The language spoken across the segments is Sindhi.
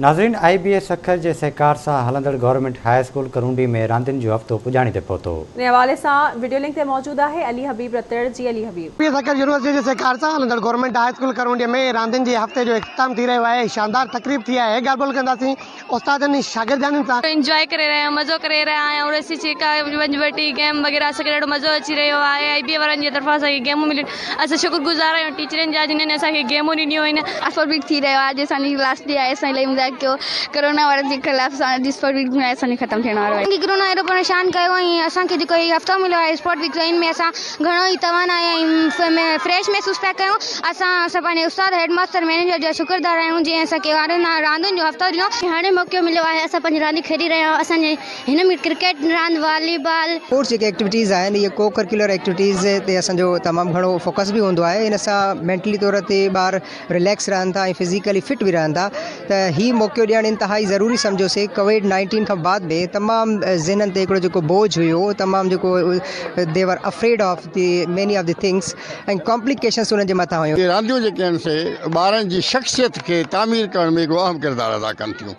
ناظرين آئي بي اي سکر جي سهڪار سان هلندڙ گورنمينٽ هاء اسڪول ڪرونڊي ۾ راندين جو هفتو پڄاڻي تي پهتو. انهي حوالي سان وڊيو لنڪ تي موجود آهي علي حبيب رتڙ جي علي حبيب. پي سکر يونيورسٽي جي سهڪار سان هلندڙ گورنمينٽ هاء اسڪول ڪرونڊي ۾ راندين جي هفتي جو اختتام ٿي رهيو آهي شاندار تقريب ٿي آهي ڳالهه ٻولهه ڪنداسين استادن ۽ شاگردياڻين سان. انجواء ڪري رهيا آهيون مزو ڪري رهيا آهيون اڙسي ڇڪا ونجهه وٽي گيم وغيره اسان کي ڏاڍو مزو اچي رهيو آهي آئي بي اي وارن جي طرفان اسان کي گيمون مليون اسان شڪر گذار آهيون ٽيچرن جا جنھن اسان کي گيمون ڏنيون آهن. اسپورٽ ويڪ ٿي رهيو آهي اڄ اسان جي لاسٽ ڏينهن آهي اسان الائي مزاق ڪيو ڪرونا وائرس جي خلاف اسان اڄ اسپورٽ ويڪ جو اسان جو ختم ٿيڻ وارو آهي. اسان کي ڪرونا اهڙو پريشان ڪيو ۽ اسان کي جيڪو هي هفتو مليو آهي اسپورٽ ويڪ جو ان ۾ اسان گهڻو ئي توانائي ۽ فريش محسوس پيا ڪيون اسان اسان پنهنجي استاد هيڊ ماستر مئنيجر جا شڪردار آهيون جنهن اسان کي راندين جو هفتو ڏنو. هاڻي موقعو مليو آهي اسان پنهنجي رانديون کيڏي رهيا آهيون اسان جي هن ۾ ڪرڪيٽ راند، والي بال. اسپورٽس جيڪي ايڪٽيوٽيز آهن اهي ڪو ڪرڪيولر ايڪٽيوٽيز تي اسان جو تمام گهڻو فوڪس به هوندو آهي ان سان مينٽلي طور تي ٻار رليڪس رهن ٿا ۽ فزيڪلي فٽ به رهن ٿا ته هي موقعو ڏيڻ انتهائي ضروري سمجهيو سي ڪوويڊ نائنٽين کان بعد به تمام ذهنن تي هڪڙو جيڪو بوجھ هيو تمام جيڪو they were afraid of the many of the things ۽ complications انهن جي مٿان هيون. اهي رانديون جيڪي آهن سي ٻارن جي شخصيت کي تعمير ڪرڻ ۾ هڪڙو اهم ڪردار ادا ڪن ٿيون.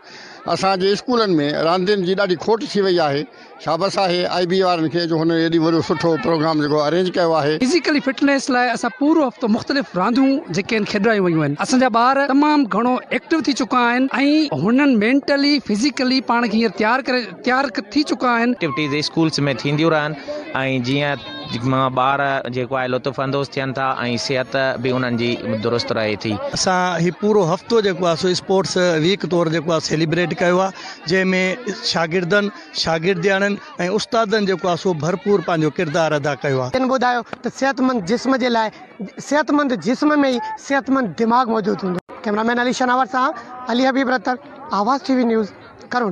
اسان جي اسڪولن ۾ راندين جي ڏاڍي کوٽ ٿي وئي آهي شابس آهي آء بي وارن کي جو هنن ايڏي وڏو سٺو پروگرام جيڪو ارينج ڪيو آهي. فزيڪلي فٽنيس لاء اسان پورو هفتو مختلف رانديون جيڪي آهن کيڏرايون ويون آهن اسان جا ٻار تمام گهڻو ايڪٽو ٿي چڪا آهن ۽ هنن مينٽلي فزيڪلي پاڻ کي هينئر تيار ڪري تيار ٿي چڪا آهن. ايڪٽيوٽيز اسڪولس ۾ ٿينديون رهن ۽ جيئن. جن مان ٻار جيڪو آهي لطف اندوز ٿين ٿا ۽ صحت به انهن جي درست رهي ٿي. اسان هي پورو هفتو جيڪو آهي سو اسپورٽس ويڪ طور جيڪو آهي سيليبريٽ ڪيو آهي جنهن ۾ شاگردن، شاگردياڻين ۽ استادن جيڪو آهي سو ڀرپور پنهنجو ڪردار ادا ڪيو آهي. تن ٻڌايو ته صحتمند جسم جي لاء صحتمند جسم ۾ ئي صحتمند دماغ موجود هوندو آهي. ڪئميرا مين علي شناور سان علي حبيب رتن، آواز ٽي وي نيوز، ڪرونڊي.